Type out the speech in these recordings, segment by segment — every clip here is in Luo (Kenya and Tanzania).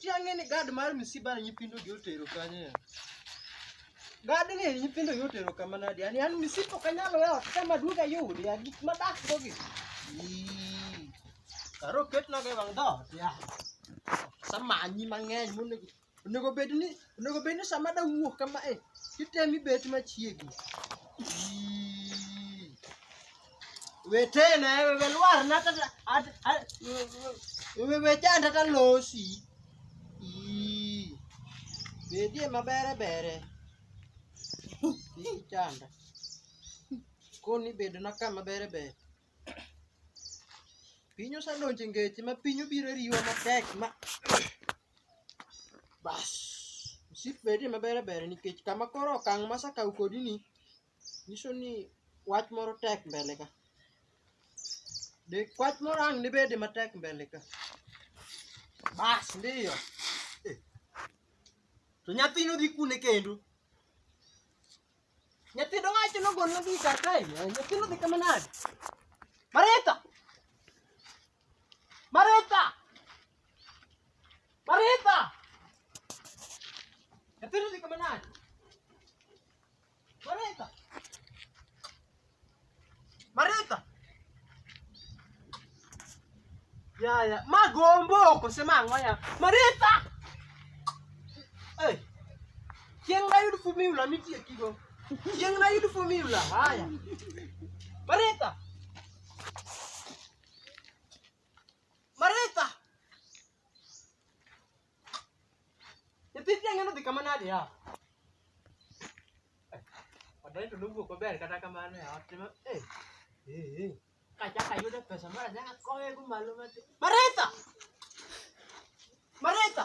Tiang'e ni gad mar msiba ni nyithindo gi otero kanye. Gad ni nyithindo gi otero kama nadi. Ani an msiba ok anyal weyo ot kama duoga yudi ya gik madak go gi. Ii. Karo ketna ga e wang' dhoot ya. Samanyi mang'eny monego Onego bed ni onego bed ni sama da wuok kama e titemi bet machiegni. Ii. Wetena e wewe lwar na tata at- a- wewe janda ta losi. Ii. Bedie mabere bere. Kik chanda. Koni bedo na kama bere bere. Piny osedonjo e ngeche ma piny obiro riwa matek ma Bas, msip bedie maber ber nikech kama koro okang' ma asekawo kodi ni nyiso ni wach moro tek mbele ka. De wach moro ang' dibedi matek mbele ka. Bas ndiyo. Eh. To nyathino dhi kune kendo? Nyithindo wacho nogol na gika kae. Nyithindo dhi kama nade? Marita. Marita. Marita. Nyithindo dhi kama nade? Marita. Maritha. Ya ya, magombo okosema ang'o ya? Maritha. Eh. Chieng' nayud fumula mitie kigo. Chieng' nayud fumula. Haya. Maritha. Nyithi tiang'e nodhi kama nade ya? Wadai to nowuok maber kata kamano ya ot ma eh eh eh kachaka yudo pesa mara nyaka kowe go malo ma Maritha Maritha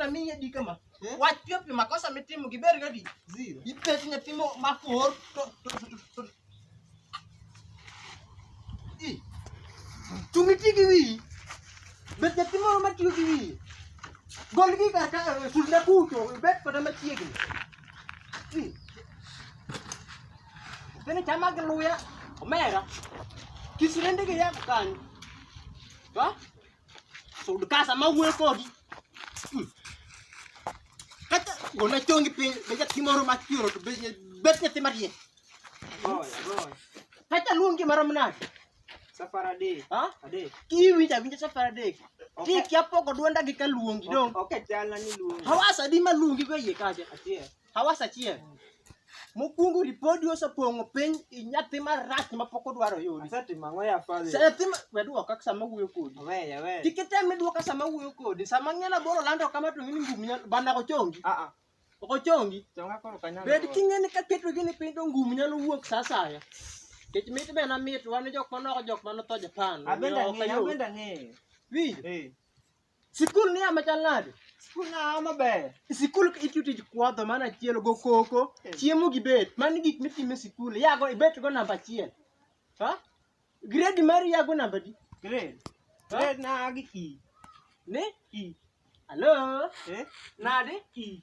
na mimi hadi kama eh? wachio pia makosa mitimo kiber gadi zero ipesi na timo makor to to i tumiti kiwi bet na timo ma tiyo kiwi gol gi kar ka eh, sulna kuto bet pada ma tiyo kiwi i tene chama gluya omera kisirende ge ya kanyo ha to ndikasa mawuoyo kodi hmm. kata gona chongi piny be nyathi moro machiero to bet nyathi madier kata luongi marom nade safar adek adek kiwinjo awinja safar adek ti kia poko dwonda gi ka luongi dong ok chalna ni luongi hawasa di ma luongi go iye kacha Hawas achiel. Mokwongo ripodi osepong'o piny i nyathi marach ma pok odwaro yudi. Asetimo ang'o ya Father? Sa nyathi ma we dwoka sama wuoyo kodi. Weya, weya. Kik item ni dwoka sama wuoyo kodi. Sama ng'ela boro lando kama to ng'ini ngum nyalo bana ok ochongi. Ah, ah. Ok ochongi. Chonga koro kanyalo. Bed king'e ni kaketo gini piny to ngum nyalo wuok sa asaya. Kech mit be na mit wan jok manoko jok manotho Japan. Abenda omiyo ok ng'eyo, ayud. abenda ng'eyo. Winjo? Eh. Sikul ni ama chal nade? Sikul na ama ber. Sikul itiyo tij kwadho mana achiel go koko, eh. chiemo gi bet. Mani gik mitime sikul. Yago ibet go namba achiel. Ha? Grade mari yago namba di? Grade. Grade na gi ki. Ne? Ki. Hello? Eh? Nade? Ki.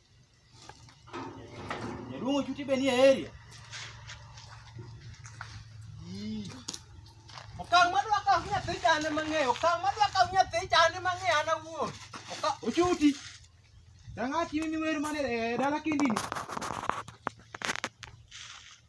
Lungu chuti be nie area. Okang madwa ka nyathi chane mang'eyo, okang madwa ka nyathi chane mang'eyo an awuon. Ochuti. Dangati mimi weru mane eh, dala kindini.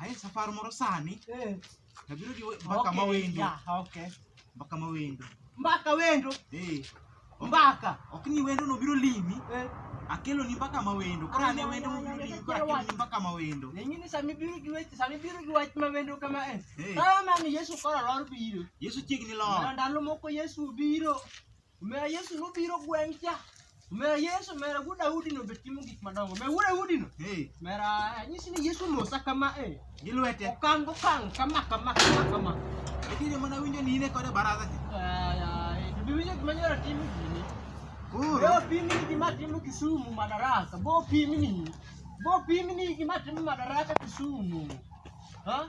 Ae safar moro sani. Eh. Nabiro gi mbaka ma wendo. Okay. Mbaka ma wendo. Mbaka wendo. Eh. Mbaka. Ok ni wendo no biro limi. Eh. Akelo ni mbaka ma wendo. Koro ane wendo mo biro limi. Koro akelo ni mbaka ma wendo. Nyinyi sami biro gi wech, sami biro gi wach ma wendo kama eh. Kama eh. mami Yesu koro lor biro. Yesu chiegni lor. Ndalo moko Yesu biro. Omera Yesu nobiro gweng' cha. Omera Yesu, omera wuod Daudi no be timo gik madongo. Omera wuod Daudi no. Hey, Omera anyisi ni Yesu mosa kama e. gi lwete. Okang' okang' kama kama kama kama. Nitiere mana winjo ni in e kode baraza cha. Ay, ay, to be winjo gima nyora timo gini. Koro, Bo pimni gima timo Kisumu madaraka. Bo pimni. Bo pimni gima timo madaraka Kisumu. Ha?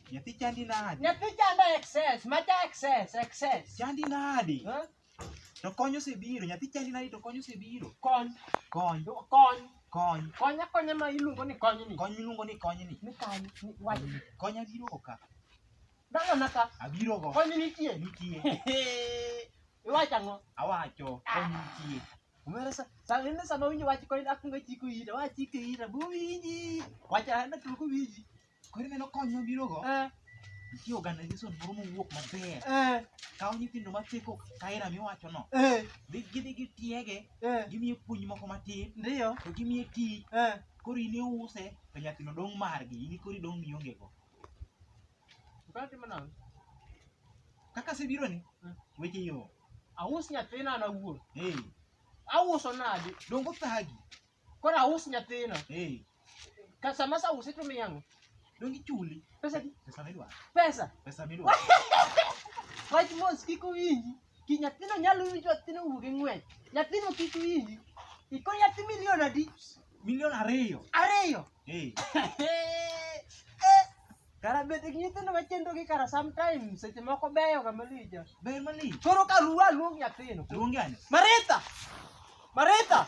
Nyathi chandi nadi? Nyathi chanda excess, macha excess, excess. Chandi nadi? Huh? To kony osebiro, nyathi chandi nadi to kony osebiro. Kony, Kony, kony, kony. kony akonya ma iluongo ni kony ni. Kony miluongo ni kony ni. Ni kany, ni wach. Kony abiro go ka. Dala naka, Abiro go. kony nitie. Nitie. Iwacho ang'o? Awacho, kony nitie. Umera sa, sa ene sama winjo wach kony akunga chiko ira, wach chiko ira, buwinji. Wacha hana tuko winji. Koro ineno kony mabirogo? Eh. Nitie organization moro mowuok maber. Eh. Kawo nyithindo maseko kaera miwachono. Eh. Gidhi gitiege, gimiye puonj moko matin. Ndiyo. To gimiye tich. Koro in iuse, to nyathino dong' margi, in koro idong' miongego. Kaka asebironi, weche yo. Aus nyathina an awuon. Auso nadi? Dongo thagi. Koro aus nyathina. Kasama sa usi to miyango. Dongi chuli. Pesa di? Pesa midwa. Pesa. Pesa midwa. Wach mos kiko winji. Ki nyathino nyalo winjo nyathino wuog e ng'wech. Nyathino kik winji. Iko nyathi milion adi? Milion ariyo. Ariyo. Eh. Kara bet gi nyithindo machendo gi kara sometimes seche moko beyo ga malija. Beyo malija. Koro ka ruwa luong nyathino. Luongi ane. Maritha. Maritha.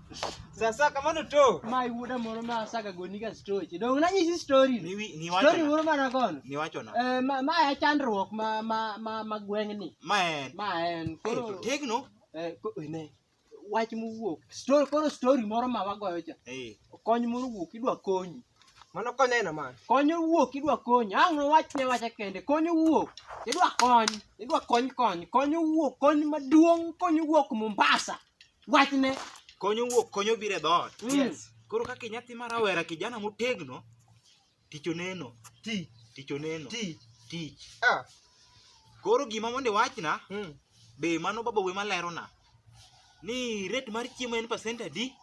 Sasa kama no to. Mai wuda moro ma saka goni ga story. Dong na nyisi story. Ni wi- ni wacho Story na. moro ma nagono. Ni wacho na. Eh ma ma ya chandruok ma ma ma ma gweng' ni. Ma en. Ma en Eh, koro to tegno. eh ko- ne wach mowuok. Story koro story moro ma wagoyo cha. Eh. Kony moro wuok idwa konyi. Mano konyo aina man. Kony wuok idwa konyi. Ang' no wach ne wacha kende. Kony wuok idwa kony. Idwa kony kony. Kony wuok kony maduong' kony wuok Mombasa. Wachne. Konyo wuok, konyo biro e dhoot. Mm. Yes. Koro kaka nyathi ma rawera kijana motegno, tich oneno. Ti. Tich oneno. Ti. Tich. Ah. Koro gima mondo iwachna, mm. be mano baba we malerona. Ni rate mar chiemo en pasent adi?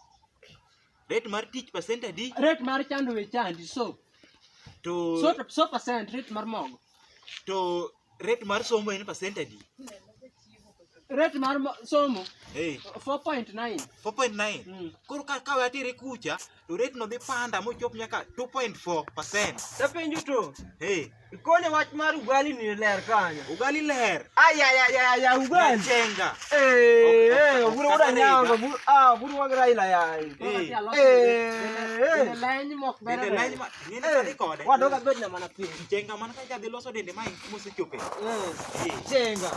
Rate mar tich pasent adi? Rate mar chando we chandi, so. To... So, so pasent, rate mar mogo. To Rate mar somo en percent adi? Rate mar mo- somo Hey, 4.9. 4.9. Mm. Koro ka kawe atiri kucha to rate no dhi panda mochop nyaka 2.4%. Tapenjo to, Hey, ikone wach mar ugali ni ler kanyo. ugali ler. Ayayayaya ugali. Chenga. Eh, eh, oburu oda nyanga, oburu- ah, oburu wag Raila yayi. Eh. Eh, eh. Leny mok Bende bere. leny ma- Nini eh, tadi kode? Waduh kan bednya mana pin? Jenga mana kan jadi loso dende main musuh cupe. Eh, iya. jenga.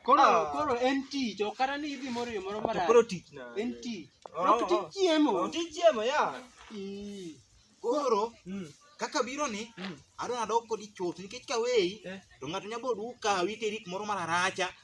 Koro ah. koro NT jo karena nih ibi moro yo moro mara. Koro dik na. NT. Koro oh, dik ciemo. Oh, dik ciemo ya. Ih. Koro. Hmm. kaka biro ni hmm. adwa nadok kodi chuth nikech ka weyi eh. to ng'ato nyabo duka witeri kumoro mararacha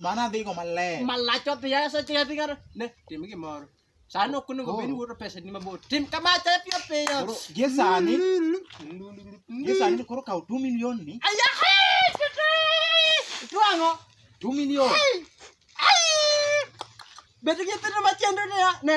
Mano adhigo maler. Malach odhi asa chi adhi kar ne tim gimoro. Sani ok onego bed wuoro pesa ni mabor. Tim kama te piyo piyo. Koro gie sani, gie sani koro kaw 2 million ni. Aya hai tete. Tu ang'o? 2 million. Ai. Ai. Bedo gi pesa machendo ne ne.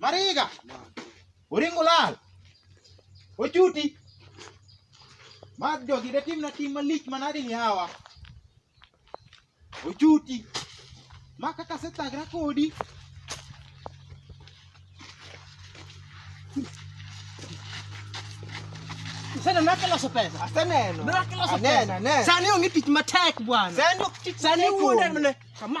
Mariga. Oringo lal. Ochuti. Mag jogi de timna tim malich manadi ni hawa. Ochuti. Ma kaka setagra kodi. Sasa nake la sopesa. Aseneno. Nake la sopesa. Anena, anena. Sani onge tich matek bwana. Sani ok tich Sani matek wuonde onge. mne. Kama.